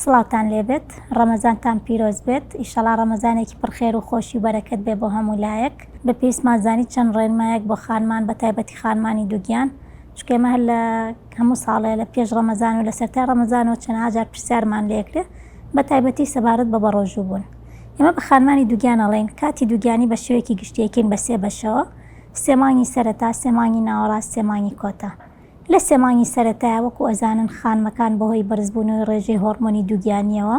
سڵاوتان لێبێت ڕەمەزانتان پیرۆز بێت ئیشەڵا ڕەمەزانێکی پڕخێر و خۆشی و بەرەکەت بێ بۆ هەموو لایەک بە پێیسمان زانی چەند ڕێنمایەک بۆ خانمان بە تایبەتی خانمانی دوگیان شکێمە هەر لە هەموو ساڵێ لە پێش ڕەمەزان و لە سەرتا ڕەمەزانەوە چەند ئاجار پرسیارمان لێکرێ بە تایبەتی سەبارەت بە بەڕۆژوو بوون ئێمە بە خانمانی دووگیان ئەڵێین، کاتی دووگیانی بە شێوەیەکی گشتی ئەیکەین بە سێ بەشەوە، سێ مانگی سەرەتا، سێ مانگی ناوەڕاست، سێ مانگی کۆتا. لە سێ مانگی سەرەتایا وەکو ئەزانن خانمەکان بەهۆی بەرزبوونەوەی ڕێژەی هۆڕمۆنی دووگیانییەوە،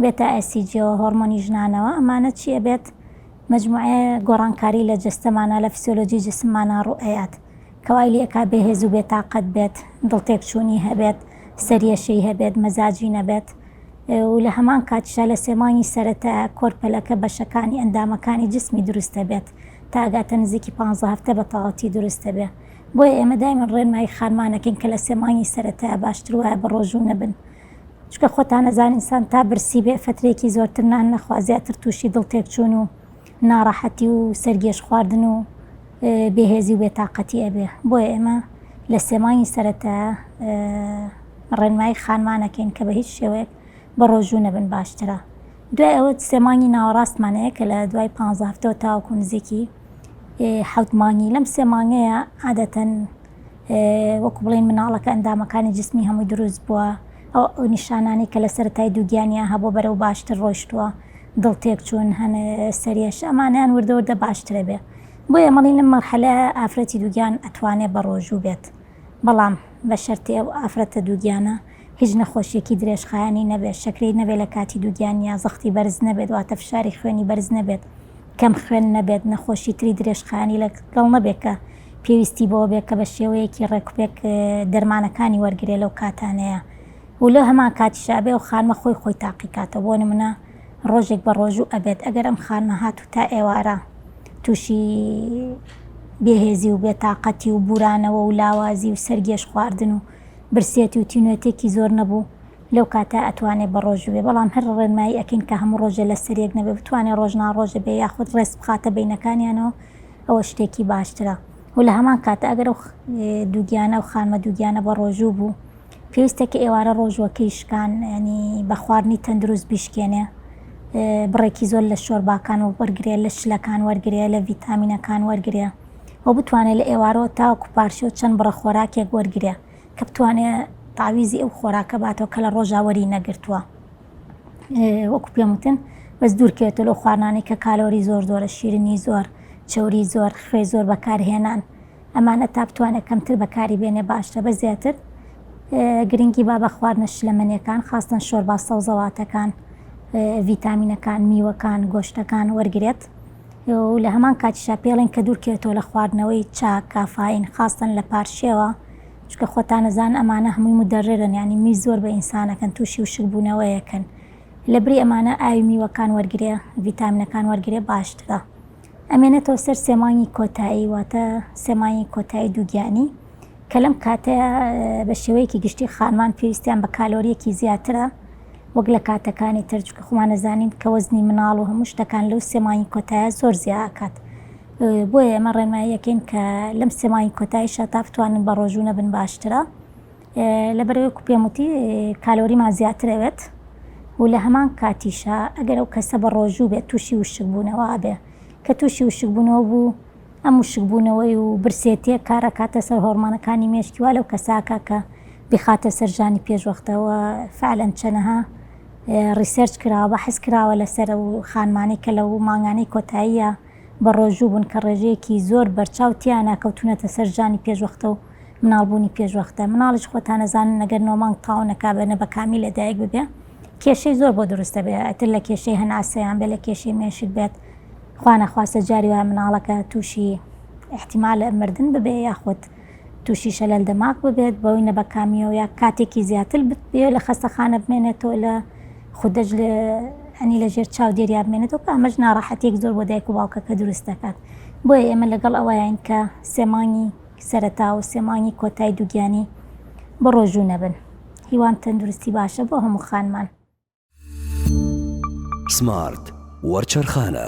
بێتا ئێسیجیەوە، هۆڕمۆنی ژنانەوە، ئەمانە چی ئەبێت؟ مەجموعەیە گۆڕانکاری لە جەستەمانا، لە فسیۆلۆجی جسممانا ڕوو ئەیات. کە وای لێ ئەکا بێ هێز و بێ تاقەت بێت، دڵتێکچوونی هەبێت، سەریەشەی هەبێت، مەزاجی نەبێت و لە هەمان کاتیشدا لە سێ مانگی سەرەتا کۆرپەلەکە بەشەکانی ئەندامەکانی جسمی دروست دەبێت تا ئەگاتە نزیکی پانزە هەفتە بە تەواوەتی دروست دەبێ بۆیە ئێمە دایمەن ڕێنمایی خانمان ئەکەین کە لە سێ مانگی سەرەتا باشتر وایە بە ڕۆژوو نەبن چونکە خۆتان ئەزانن ئینسان تا برسی بێ فەترەیەکی زۆرتر نان نەخوا زیاتر تووشی دڵتێکچوون و ناڕەحەتی و سەرگێژخواردن و بێهێزی و بێتاقەتی ئەبێ بۆیە ئێمە لە سێ مانگی سەرەتا ڕێنمایی خانمانەکەین کە بە هیچ شێوەیەک بە ڕۆژوو نەبن باشترە دوای ئەوە سێ مانگی ناوەڕاستمانەیە کە لە دوای پ هەفتەوە تاوەکو نزیکی حوت مانگی لەم سێ مانگەیە عادەتەن وەکو بڵێین مناڵەکە ئەندامەکانی جسمی هەمووی دروست بووە، ئەو نیشانانەی کە لە سەرەتای دووگیانیان هەبووە بەرەو باشتر ڕۆیشتووە، دڵ تێکچوون هەن، سەریەش، ئەمانەیان وردە وردە باشتر ئەبێ. بۆیە ئەمەڵێین لەم مەرحەلە ئافرەتی دووگیان ئەتوانێ بەڕۆژوو بێت، بەڵام بە شەرتی ئەو ئافرەتە دووگیانە هیچ نەخۆشیەکی درێژخایەنی نەبێت، شەکرەی نەبێت لە کاتی دووگیانیا، زەختی بەرز نەبێت واتە فشاری خوێنی بەرز نەبێت، کەم خوێن نەبێت، نەخۆشی تری درێژخایەنی لە گەڵ نەبێت کە پێویستی بەوە بێت کە بە شێوەیەکی ڕێکوپێک دەرمانەکانی وەرگرێت لەو کاتانەیا و لە هەمان کاتیشا ئەبێ ئەو خانمە خۆی خۆی تاقی کاتەوە بۆ نمونە ڕۆژێک بە ڕۆژوو ئەبێت ئەگەر ئەم خانمە هات و تا ئێوارە تووشی بێهێزی و بێتاقەتی و بورانەوە و لاوازی و سەرگێژ خواردن و برسێتی و تینوێتێکی زۆر نەبوو لەو کاتە ئەتوانێ بە ڕۆژو بێ بەڵام هەر ڕێنمایی ئەکەین کە هەموو ڕۆژێ لەسەر یەک نەبێ بتوانێ ڕۆژ نا ڕۆژێ بێ یاخود ڕێز بخاتە بەینەکانیانەوە ئەوە شتێکی باشترە و لە هەمان کاتە ئەگەر ئەو دووگیانە ئەو خانمە دووگیانە بە ڕۆژوو بوو پێویستە کە ئێوارە ڕۆژوەکەی شکان ینی بە خواردنی تەندروست بیشکێنێ بڕێکی زۆر لە شۆرباکان و وەرگێ لە شلەکان وەرگێ لە ڤیتامینەکان وەرگێ و بتوانێت لە ئێوارەوە تاوەکو پارشێو چەند بڕە خۆراکێک وەرگێ کە بتوانێ تاویزی ئەو خۆراکە باتەوە کە لە ڕۆژاوەری نەگرتووە وەکو پێم وتن بەس دوورکەێتە لەو خوانانی کە کالۆری زۆر زۆرە شیرنی زۆر چوری زۆر خوێ زۆر بەکارهێنان ئەمانە تا بتوانێت کەمتر بەکاری بێنێ باشتە بە زیاتر گرنگی با بە خواردنە شلەمەنیەکان خاستن شۆربا سەوزەواتەکان ڤیتامینەکان میوەکان گۆشتەکان وەرگێت و لە هەمان کاتیشا پێڵێن کە دوورکەوێتەوە لە خواردنەوەی چا، کافایین، خاستەن لە پارشێوە، چونکە خۆتان ئەزانن ئەمانە هەمووی مودەررن یانی میز زۆر بە ئینسان ئەکەن تووشی وشک بوونەوەیەکن، لە بری ئەمانە ئاوی میوەکان وەرگرێ ڤیتامینەکان وەرگرێ باشترە. ئەمێنێتەوە سەر سێ مانگی کۆتایی واتە سێ مانگی کۆتایی دووگیانی کە لەم کاتەیا بە شێوەیەکی گشتی خانمان پێویستیان بە کالۆریەکی زیاترە وەک لە کاتەکانی تر چونکە خۆمان ئەزانین کە وەزنی مناڵ و هەموو شتەکان لەو سێ مانگی کۆتایە زۆر زیا ئەکات بۆیە ئێمە ڕێنمایی ئەکەین کە لەم سێ مانگی کۆتایشا تا بتوانن بە ڕۆژوو نەبن باشترە لەبەرەوەی کو پێم وتی کالۆریمان زیاتر ئەوێت و لە هەمان کاتیشا ئەگەر ئەو کەسە بە ڕۆژوو بێت تووشی وشکبوونەوە ئەبێ کە تووشی وشکبوونەوە بوو ئەم وشکبوونەوەی و برسێتیە کار ئەکاتە سەر هۆڕمانەکانی مێشکی وا لەو کەسە ئەکا کە بیخاتە سەر ژانی پێشوەختە وە فعلەن چەنەها ڕیسێرچ کراوە بەحس کراوە لەسەر و خانمانەی کە لەو مانگانەی کۆتاییە بە ڕۆژوو بوون کە ڕێژەیەکی زۆر بەرچاو تیانا کەوتونەتە سەر ژانی پێشوەختە و مناڵبوونی پێشوەختە مناڵیش خۆتان ئەزانن نەگەر نۆ مانگ تاو نەکا بە نەبەکامی لەدایک ببێ کێشەی زۆر بۆ دروست دەبێ ئەتر لە کێشەی هەناسەیان بێ لە کێشەی مێشک بێت خوانەخواستە جاری وایە مناڵەکە توشی ئیحتیمال مردن ببێ یاخود توشی شەلەل دەماغ ببێت بەوەی نەبەکامیەوە یا کاتێکی زیاتر بتبێ لە خەستەخانە بمێنێتەوە لە خودەج لە ئەنی لە ژێر چاو دێریا بمێنێتەوە کە ئەمەش ناڕەحەتیەک زۆر بۆ دایک و باوکەکە دروست دەکات بۆیە ئێمە لەگەڵ ئەوەیان کە سێمانگی سەرەتا و سێمانگی کۆتای دووگیانی بڕۆژوو نەبن هیوام تەندروستی باشە بۆ هەموو خانمان. سمارت وەرچەرخانە.